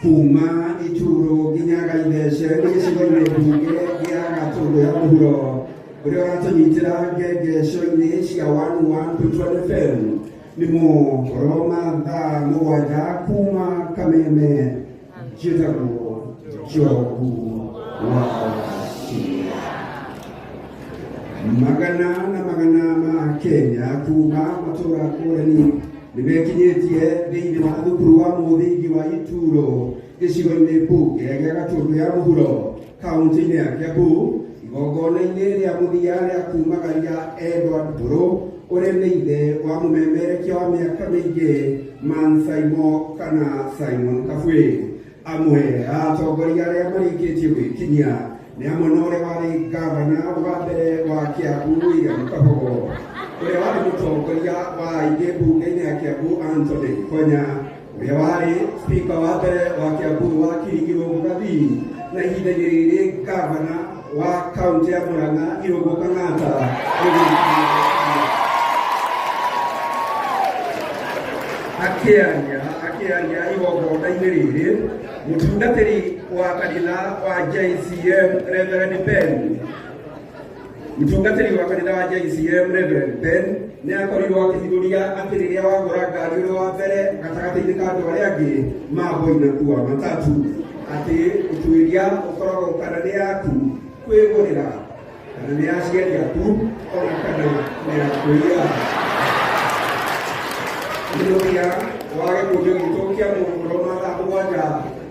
kuma icuro nginya gaithece nĩ gĩcigo-inĩ mbunge gĩa gatũndũ ya mũhuro ũrĩa ũratũnyitĩra ngengeco-inĩ cia wanu wa Ntutwani FM nĩ mũhoro mathaa mũgwanja kuma kameme Jitabo Jobu Wasia magana na magana ma Kenya kuma matũra ngũrani nĩ mekinyĩtie thĩinĩ wa thukuru wa mũthingi wa Ituro gĩcigo-inĩ mbunge gĩa Gatũndũ ya mũhuro kaunti-inĩ ya Kiambu igongona-inĩ rĩa mũthia rĩa kumagaria Edward Mbũrũ ũrĩa nĩ ithe wa mũmemerekia wa mĩaka mĩingĩ Man Saimo kana Simon Kabwĩ. Amwe a atongoria arĩa marĩkĩtie gwĩkinyia nĩ amwe na ũrĩa warĩ ngavana wa mbere wa Kiambu William Kabogo, ũrĩa warĩ mũtongoria wa aingĩ mbunge-inĩ ya Kiambu Anthony Konya, Ũrĩa warĩ spika wa mbere wa Kiambu wa Kirigirũ Mũgathini na ihinda-inĩ rĩrĩ ngavana wa kaunti ya Murang'a Irũngũ Kang'ata akĩaria akĩaria igongona-inĩ rĩrĩ mũtungatĩri wa kanitha wa JCM Reverend Ben Mũtungatĩri wa kanitha wa JCM Reverend Ben nĩ akorirwo akĩthigũria atĩ rĩrĩa wagũra ngari ũrĩ wa mbere gatagatĩ-inĩ ka andũ arĩa angĩ ma mboi na kuwa matatu atĩ ũtuĩria ũkoragwo kana nĩ yaku kwĩgũrĩra kana nĩ aciari aku ona kana nĩ ya kũiya mũthia wa gĩkundi gitũ kĩa mũhũro mathaa mũgwanja